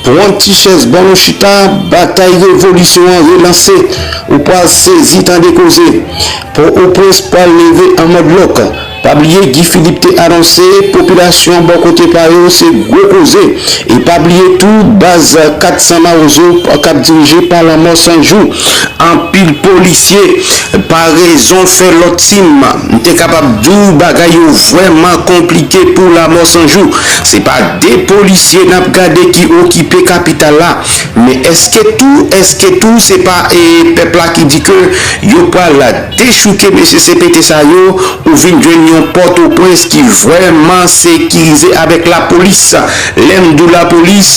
Pwan ti chèz ban nou chita batay revolisyon an relanse ou pwal sezi tande koze pò o prens pwal leve an mòd lòk pa bliye Guy Philippe te anonse popilasyon an bò kote pa yo se gwo koze e pa bliye tou baz 400 mawozo kap dirije pa lanmò 100 jou anpil polisye pa rezon fè lòt team. M te kapab di w bagay yo vrèman konplike pou Lamò 100 jou. Se pa 2 polisye n ap gade ki okipe kapital la. Men èske tou, èske tou se pa pèp la ki di ke yo pral dechouke mesye CPT sa yo ou vin jwenn yon Pòtoprens ki vrèman sekirize avèk lapolis. Lè m di w lapolis,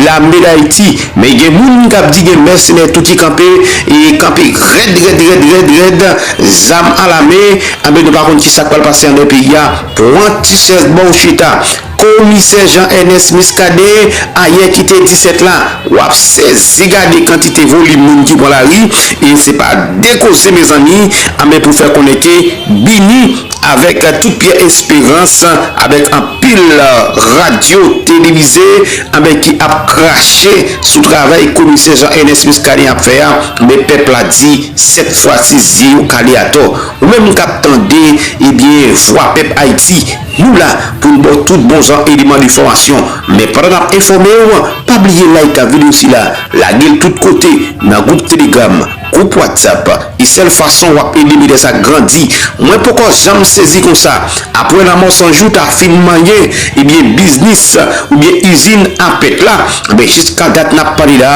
lame Dayiti. Men gen moun kap di gen mèsenè tou ki kanpe e kanpe rèd rèd rèd rèd rèd zam a la men anben nou pa konn ki sak pral pase andan peyi a pwan ti chèz baw chita komisè Jean Ernest Muscadin ayè ki te 17 la wap sezi gade kantite volim moun ki pwan lari e se pa de koze mezanmi anben pou fè konnen ke bini Avèk tout Pyè Esperans, avèk anpil radyo televize anben ki ap krache sou travay komisè Jean Ernest Muscadin ap fè a, anben pèp la di sèt fwa si zye yo kale atò. Ou menm kap tande ebyen vwa pèp Ayiti, nou la pou n ba w tout bon jan eleman de fòmasyon. Men pandan nap enfòme w, pa bliye like video sila, lage l tout kote nan gwoup telegram, Group whatsapp e sèl fason wap ede metè sa grandi mwen poko janm sezi konsa apwè lamò sanjou ta fin manyen ebyen biznis oubyen izin a pèt la ebyen jis ka dat nap pale la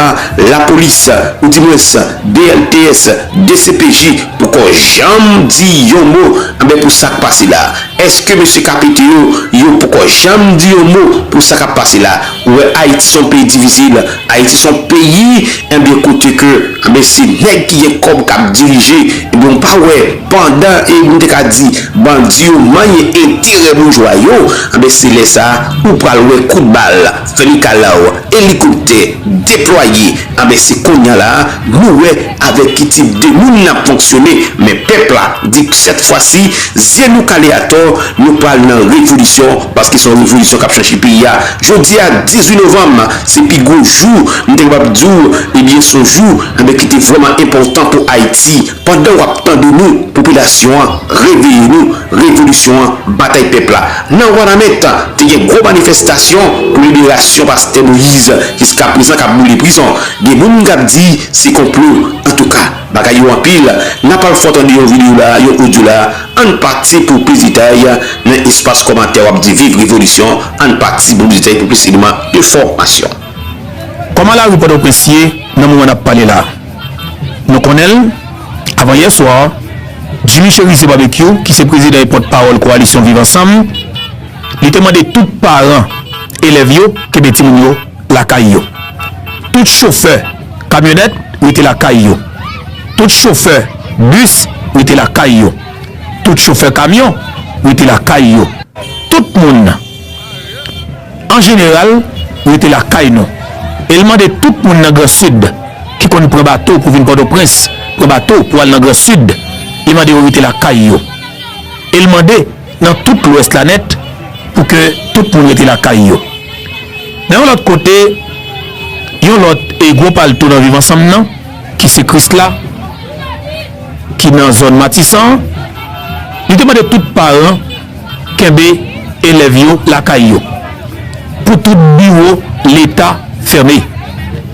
la polis ou di mwens dlts dcpj poko janm di yon mo ebyen pou sak pase la eske mesye ka pete yo yo poko janm di yon mo pou sa kap pase la. Ou wè ayiti son peyi divisil ayiti son peyi ebyen kote ke ebyen se nèg ki gen kòb kap dirije ebyen ou pa wè pandan e nou te ka di bandi yo manyen enterè boujwa yo ebyen se lè sa ou pral wè kout bal fè mikalaw elikoptè deplwaye Anben se konnya la nou wè avèk ki tip de moun nap fonksyone men pèp la di k sèt fwa si zye nou kale atò nou pral nan revolisyon paske son revolisyon kap chanje peyi a jodia 18 novanm se pi gwo jou m te kapab diw ebyen son jou anben ki te vrèman enpòtan pou ayiti. Pandan wap tande nou popilasyon an reveye nou revolisyon an batay pèp la nan wanament te gen gwo manifestasyon pou liberasyon pastè moise jiska prezan kap boule prizon gen moun kap di se konplo antouka bagay yo anpil nap al fò tande yon video la yon audio la ann pati pou plis detay nan espas kòmantè wap di viv revolisyon ann pati pou plis detay pou plis eleman enfòmasyon. Kòman lari pòtoprens ye nan moman nap pale la? Nou konnen l, avan yè swa, Jimmy Cherizier Barbecue, ki se prezidan e pòt pawòl koalisyon Viv Ansanm, li te mande tout paran elèv yo kenbe timoun yo lakay yo. Tout chofè kamyonèt rete lakay yo. Tout chofè bis rete lakay yo. Tout chofè kamyon rete lakay yo. Tout moun. An jeneral, rete lakay nou. E l mande tout moun nan gran sid ki konn pran bato pou vin Pòtoprens, pran bato pou al nan gran sid, li mande yo rete lakay yo. E l mande nan tout lwès la nèt pou ke tout moun rete lakay yo. Nan yon lòt kote, yon lòt e gwo palto nan Viv Ansanm nan, ki se Krisla, ki nan zòn Matisan, li te mande tout paran, kenbe elèv yo lakay yo, pou tout biwo leta fèmen.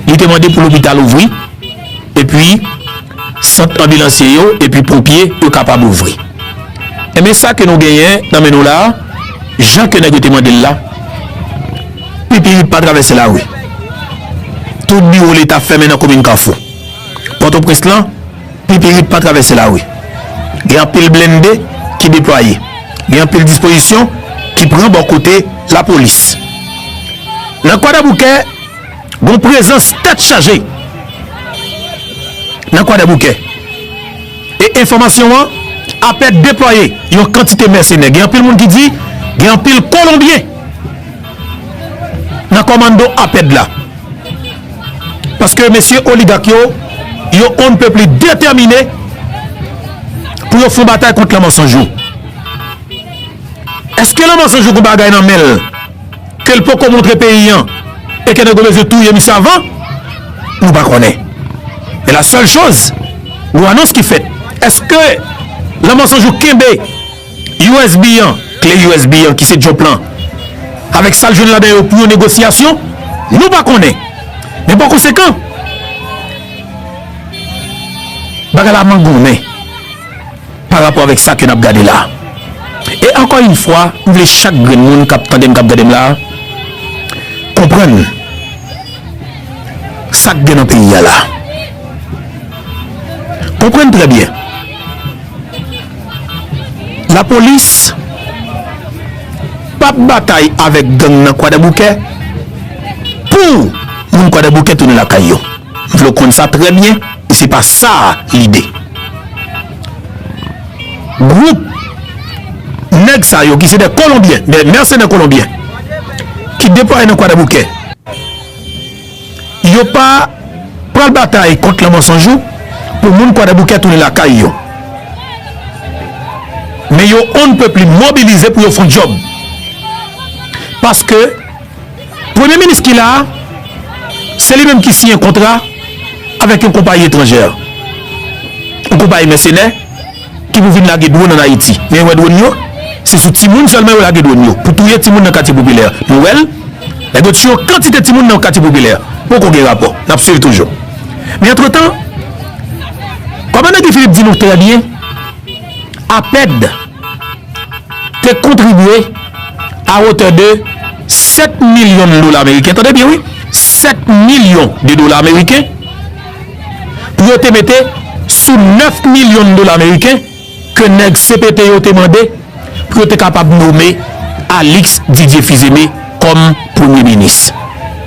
Li te mande pou lopital ouvri, epi sant anbilansye yo epi ponpye yo kapab ouvri. Enben sa ke nou genyen nan men nou la a, jan ke nèg yo te mande l la, pipirit pa travèse lari. Tout biwo leta fèmen nan komin Kafou. Pòtoprens lan. Pipirip pa travèse lari. Gen anpil blennde ki deplwaye. Gen anpil dispozisyon ki pran bò kote lapolis. Nan Kwadèboukè, gon prezans tèt chaje nan Kwadèboukè. E enfòmasyon an apè deplwaye yon kantite mèsenè. Gen anpil moun ki di gen anpil kolonbyen nan kòmanndo apèd la. Paske mesye oligak yo, yo on ne peut plus determine pou yo fon batay kont la mansanj yo. Eske la mansanj yo gou bagay nan menl ke l poko montre peyi an e ke nèg yo bezwen touye misye avan? Nou pa konnen. Men la sèl choz, yon anons ki fèt. Eske la mansanj yo kenbe? Usb an, kle usb an ki se Jump lan, avèk sa l jwenn ladan yo pou yon negosyasyon, nou pa konnen. Men pa konsekan, bagay la mangonnen pa rapò avèk sa ke n ap gade la. E ankò yon fwa, m vle chak grenn moun k ap tande m, k ap gade m la, konprann sa k gen nan peyi a la. Konprann trè byen. Lapolis p ap batay avèk gang nan Kwadèboukè pou moun Kwadèboukè tounen lakay yo. M vle w konn sa trè byen e se pa sa lide gwoup nèg sa yo ki se dè kolonbyen, dè mèsenè kolonbyen ki deplwaye nan Kwadèboukè. Yo pa pral batay kont lanmò san jou pou moun Kwadèboukè tounen lakay yo. Men yo on pè pli mobilize pou yo fon djòb. Paske premye minis ki la a, se li menm ki siyen kontra avèk yon konpayi etranjè. Yon konpayi mèsenè. Ki pou vin lage dwon an Ayiti. Men wè dwon yo, se sou timoun sèlman yo lage dwon yo pou touye timoun nan katye popilè. Nou wè l, nèg yo tiye yon kantite timoun nan katye popilè. Poko gen rapò. N ap swiv toujou. Men antretan, kòmandan Guy Philippe di nou trè byen, APED te kontribye a wotè de 7 milyon dola meriken, tande byen wi, 7 milyon de dola meriken, yo te mete sou 9 milyon dola meriken ke nèg cpt yo te mande pou yo te kapab nome Alix Didier Fils-Aimé kòm premye minis.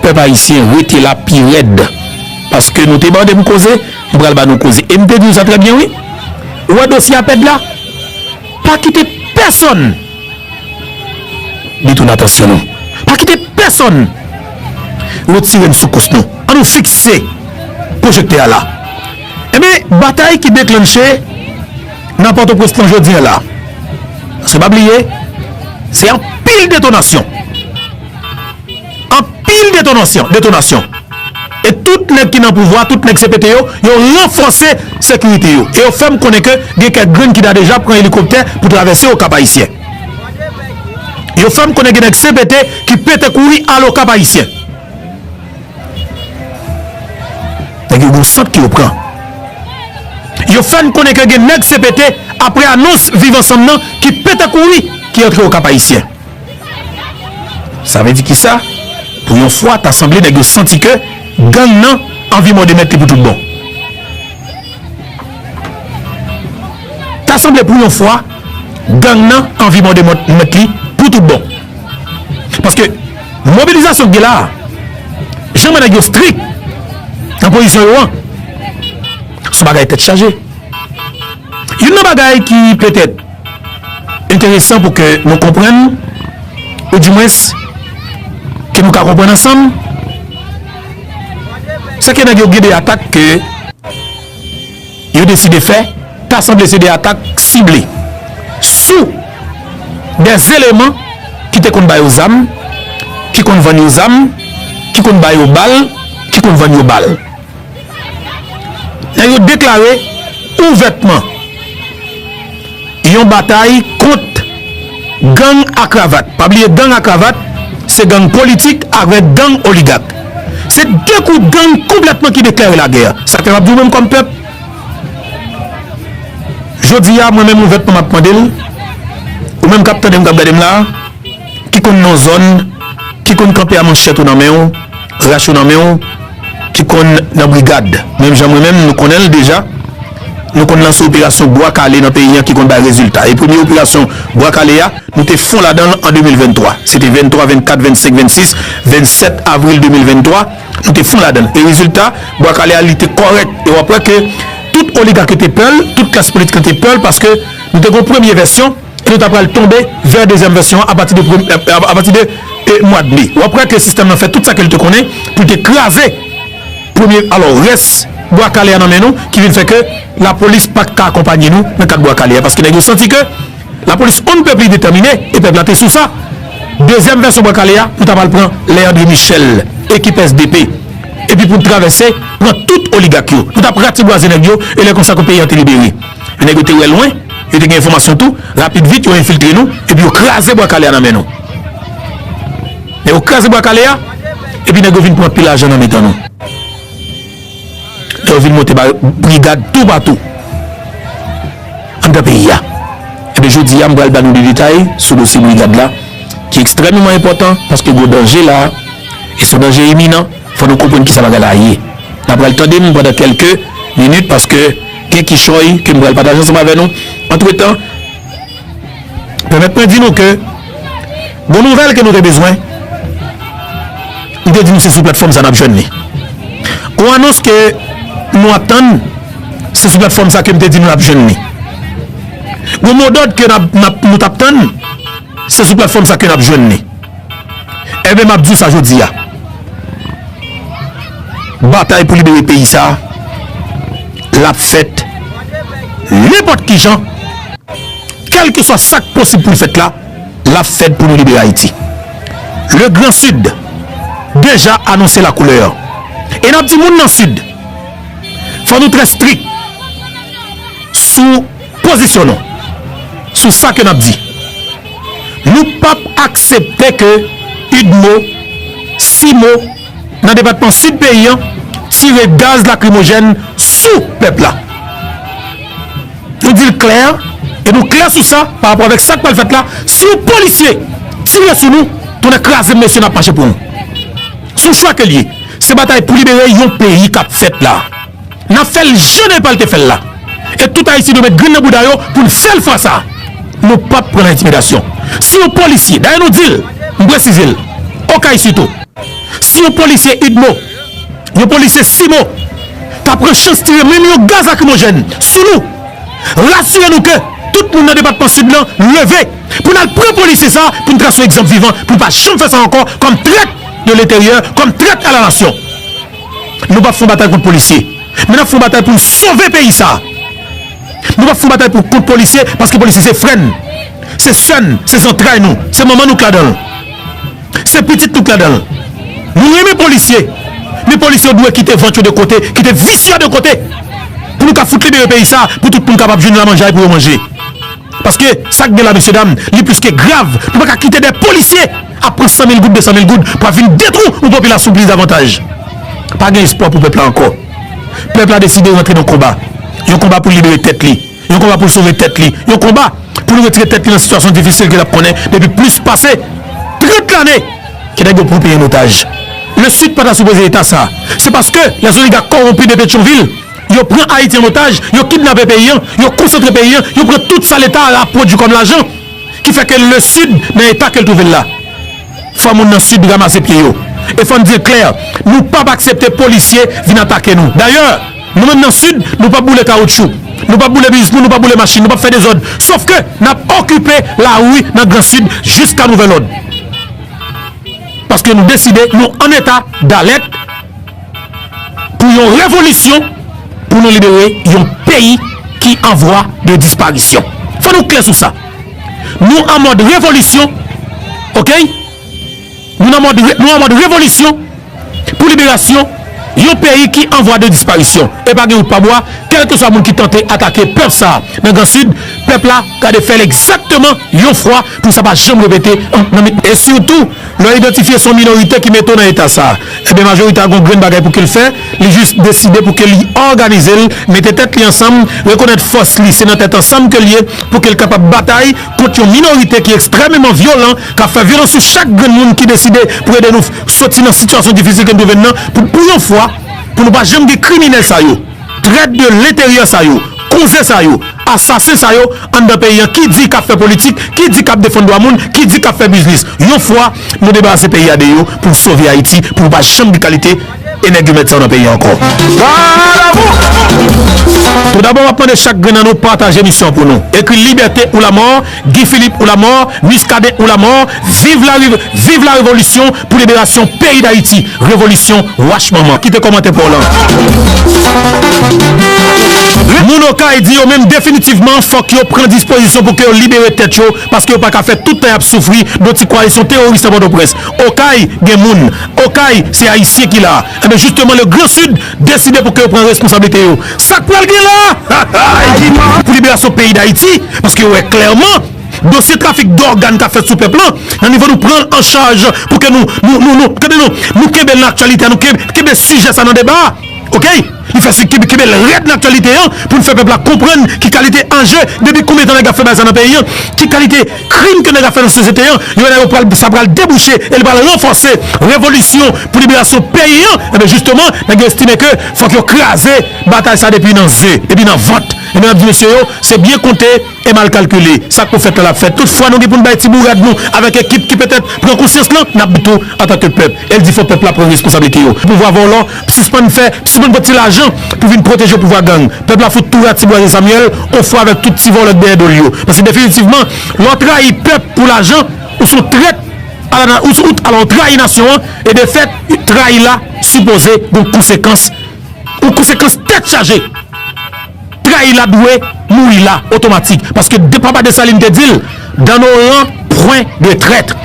Pèp ayisyen rete la pi rèd paske nou te mande m koze, m pral ba nou koze e m te di w sa trè byen wi. Ou wè dosye APED la? Pa kite pèsonn! Detoune atansyon nou. Pa kite pèsòn retire n sou kous nou. An nou fikse pwojektè a la. Enben, batay ki deklannche nan Pòtoprens lan jodi an la. Paske pa bliye, se anpil detonasyon. Anpil detonansyon, detonasyon. E tout nèg ki nan pouvwa, tout nèg CPT yo, yo ranfòse sekirite yo. E yo fè m konnen ke gen kèk grenn ki ta deja pran elikoptè pou travèse Okap Ayisyen. Yo fè m konnen gen nèg CPT ki pete kouri al Okap Ayisyen. Nèg yo gon sant ke yo pran. Yo fè n konnen ke gen nèg CPT, apre anons Viv Ansanm nan, ki pete kouri, ki antre Okap Ayisyen. Sa vle di kisa? Pou yon fwa ta sanble nèg yo santi ke gang nan anvi mòde mèt li pou tout bon. Ta sanble pou yon fwa gang nan anvi mòde mèt li pou tout bon. Paske mobilizasyon ki gen la a, jan mwen nèg yo strik nan pozisyon yo an, son bagay tèt chaje. Youn nan bagay ki petèt. enteresan pou ke nou konprann, ou di mwens, ke nou ka konprann ansanm, se ke nèg yo gen de atak ke yo deside fè, ta sanble se de atak sible, sou de zeleman ki te konn ba yo zam, ki konn vann yo zam, ki konn ba yo bal, ki konn vann yo bal. Nèg yo deklare ouvètman yon batay kont gang a kravat. Pa bliye gang a kravat se gang politik avèk gang oligak. Se 2 kout gang konplètman ki deklare lagè. Sa fè m ap di w menm kòm pèp, jodi a mwen menm ouvètman m ap mande l, ou menm k ap tande m k ap gade m la, ki konn non zòn, ki konn kanpe a manchèt ou nan men w, rach ou nan men w, ki konn nan brigad menm jan mwen menm nou konnen l deja nou konn lanse operasyon bwa kale nan peyi an ki konn bay rezilta e premye operasyon bwa kale a nou te fon ladan l an 2023 se te 23 24 25 26 27 avril 2023 nou te fon ladan l e rezilta bwa kale a li te kòrèk e w ap wè ke tout oligak yo te pè l tout klas politik lan te pè l paske nou te gon premye vèsyon. e nou ta pral tonbe vè dezyèm vèsyon an apati de mwad me. Wap wè ke sistèm nan fè tout sa ke li te konnen pou li te kraze premye, alò rès Bwa Kale a nan men nou ki vin fè ke lapolis pat ka akonpanye nou nan kat Bwa Kale a paske nèg yo santi ke lapolis on ne peut plus detèmine e pèp la te sou sa. Dezyèm vèsyon Bwa Kale a, nou ta pral pran lè André Michel, ekip sdp epi pou nou travèse pran tout oligak yo. Nou tap ratibwaze nèg yo e lè konsa ke peyi a te libere. Nèg yo te wè lwen, yo te gen enfòmasyon tou, rapid vit yo enfiltre nou epi yo kraze Bwa Kale a nan men nou. Lè yo kraze Bwa Kale a, epi nèg yo vin pran pi lajan nan mitan nou. Lè yo vin monte ba brigad toupatou anndan peyi a. Ebyen jodi a m pral ba nou de detay sou dosye brigad la ki ekstrèmeman enpòtan paske gwo danje la a e son danje iminan. Fò nou konprann kisa bagay la ye. N'a pral tande m pandan kèlke minit paske gen kichòy ke m pral pataje ansanm avè nou. Antretan, pèmèt mwen di nou ke gon nouvèl ke nou te bezwen. M te di nou se sou platfòm sa n'ap jwenn li. Gon anons ke nou ap tann, se sou platfòm sa ke m te di nou n'ap jwenn li. Gon modòd ke nou t'ap tann, se sou platfòm sa ke n'ap jwenn li. Enben, m ap di w sa jodi a, batay pou libere peyi sa a, l ap fèt nenpòt ki jan, kèlkeswa sa k posib pou l fèt la, l ap fèt pou nou libere Ayiti. Le Gran Sid deja anonse lakoulè an. E n ap di moun nan Sid, fò nou trè strik sou pozisyon nou sou sa ke n ap di. Nou p ap aksepte ke udmo, cimo nan depatman Sid peyi an tire gaz lakrimojèn sou pèp la. Nou di l klè e nou klè sou sa pa rapò avèk sa k pral fèt la, si yon polisye tire sou nou, tonnè kraze m mesye n ap mache pou nou. S on chwa ke l ye. Se batay pou libere yon peyi k ap fèt la. N ap fè l jan Nepal te fè l la. E tout Ayisyen dwe met grenn nan bouda yo pou n fè l fwa sa a. Nou pap pran nan entimidasyon. Si yon polisye, dayè nou di l, m presize l, Okay sitou, si yon polisye udmo, yon polisye cimo ta pran chans tire menm yon gaz lakrimojèn sou nou, rasire nou ke tout moun nan depatman Sid lan leve pou n al pran polisye sa a pou n trase yon egzanp vivan pou l pa janm fè sa ankò kòm trèt de leteryè, kòm trèt a la nasyon. Nou pap fon batay kont polisye men nap fon batay poun sove peyi sa Nou pap fon batay pou kont polisye paske polisye se frè n se sè n se zantray nou se manman nou k ladan l se pitit nou k ladan l Nou renmen polisye men polisye yo dwe kite vant yo de kote kite vis yo de kote pou nou ka fout libere peyi sa pou tout moun kapab jwenn lamanjay pou yo manje paske sak gen la mesye dam li plis ke grav nou pa ka kite de polisye ap pran 100 mil goud 200 mil goud pou ap vin detwou yon popilasyon plis davantaj pa gen espwa pou pèp la ankò pèp la deside rantre nan konba yon konba pou libere tèt li yon konba pou l sove tèt li yon konba pou l retire tèt li nan sitiyasyon difisil ke l ap konnen depi plis pase 30 lane ke nèg yo pran peyi an otaj le sid pa ta sipoze eta sa se paske lè zoliga kowonpi de petyonvil yo pran ayiti an otaj yo kidnape peyi an yo konsantre peyi an yo pran tout sa leta a ap pwodui kòm lajan. ki fè ke le Sid nan eta ke l twouve l la. Fò moun nan Sid ramase pye yo. E fò n di l klè, nou p ap aksepte polisye vin atake nou. Dayè, nou menm nan Sid, nou p ap boule kawoutchou, nou p ap boule biznis moun, nou p ap boule machin, nou p ap fè dezòd, sof ke n ap okipe lari nan Gran Sid jiska nouvèl òd. Paske nou deside nou an eta dalèt. Pou yon revolisyon pou nou libere yon peyi ki an vwa de disparisyon. Fò nou klè sou sa. Nou an mòd revolisyon ok. Nou nan mòd nou an mòd revolisyon pou liberasyon yon peyi ki an vwa de disparisyon. E pa gen wout pa bwa, kèlkeswa moun ki tante atake pèp sa a nan gran sid, pèp la gade fè l egzakteman yon fwa pou sa pa janm repete an nan. E sitou. Lè yo idantifye se yon minorite ki mete w nan eta sa, enben majorite a gen yon grenn bagay pou ke l fè, li jis deside pou ke li òganize l, mete tèt li ansanm, rekonèt fòs li, se nan tèt ansanm ke l ye, pou ke l kapab batay kont yon minorite ki ekstrèmeman vyolan, k ap fè vyolans sou chak grenn moun ki deside pou ede nou soti nan sitiyasyon difisil ke nou twouve n nan, pou yon fwa, pou nou pa janm gen kriminèl sa yo. Trèt de lenteryè sa yo, konze sa yo, asasen sa yo anndan peyi an ki di kap fè politik, ki di kap defann dwa moun, ki di kap fè biznis. Yon fwa nou debarase peyi a de yo pou sove Ayiti pou nou pa janm gen kalite enègumèt sa yo nan peyi an ankò. Tou dabò map mande chak grenn nan nou pataje emisyon an pou nou. Ekri libète ou lamò Guy Philippe ou la mort Muscadin ou la mort viv la viv la revolution pou liberasyon peyi dayiti revolution wach manman kite komantè paw lan. Moun okay di yo menm definitivman fok yo pran dispozisyon pou ke yo libere tèt yo paske yo paka fè tout tan yap soufri bon ti koalisyon teworis nan potoprens okay gen moun okay se ayisyen ki la ebyen jisteman le gran sud Deside pou ke yo pran responsablite yo. Sak pral gen la a pou liberasyon peyi dayiti paske yo wè klèman dosye trafik dògàn kap fèt sou pèp lan nan nivo nou pranl an chaj pou ke nou nou kenbel nan aktyalite a nou kenbe sijè sa nan deba a ok li fè si kenbel rèd nan aktyalite an poun fè pèp la konprann ki kalite anje depi konbyen tan nèg ap fè bagay sa nan peyi an ki kalite Krim ke nèg ap fè nan sosyete an, yo wè la yo pral, sa pral debouche e li pral ranfòse revolisyon pou liberasyon peyi an, enben jisteman nèg yo estime ke fòk yo kraze batay sa depi nan ze, depi nan vant. Enben n ap di mesye yo, se byen konte e mal kalkile. Sa k pou fèt la l ap fèt. Tout fwa nou gen pou n bay ti bourad nou avèk ekip ki petèt pran konsyans lan, n ap di tou antanke pèp, el di fò pèp la pran responsablite yo. Pouvwa vòlò. sispann fè, sispann pran ti lajan pou vin pwoteje pouvwa gang. Pèp la fout tou ratibwaze Samuel on fwa avèk tout ti vòlò k dèyè do l yo. Paske definitivman, lè w trayi pèp pou lajan, ou son trèt a la na, ou son, ala w trayi nasyon an e de fèt, trayi la sipoze gon konsekans, yon konsekans tèt chaje. trayi la dwe mouri la otomatik paske de papa Dessalines te dil dans nos rangs point de traître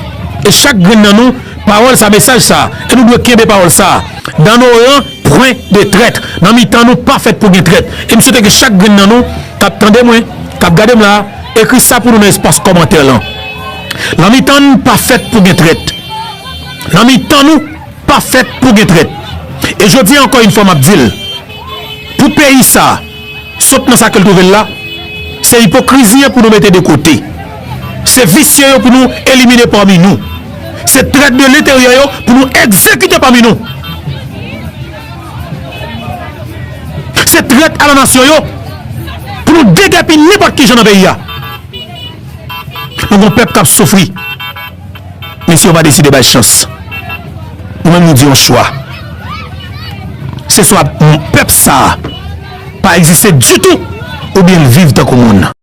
e chak grenn nan nou pawòl sa mesaj sa e nou dwe kenbe pawòl sa dans nos rangs point de traître nan mitan nou pa fèt pou gen trèt e m swete ke chak grenn nan nou kap tande mwen kap gade m la ekri sa pou nou nan espas kòmantè lan nan mitan n pa fèt pou gen trèt nan mitan nou. Pa fèt pou gen trèt. E jodi a ankò yn fwa map dil, pou peyi sa sot nan sa kel twouvel la, se ipokrizi an pou nou mete de kote. Se visye yo pou nou elimine pami nou. Se trèt de lenteryè yo pou nou egzekite pami nou. Se trèt a la nasyon yo pou nou degèpi nenpòt kijan nan peyi a. Nou gon pèp kap soufri. Mesye yo pa deside bay chans. Nou menm nou di yon chwa. Se swa pèp sa a pa egziste ditou oubyen l viv tankou moun.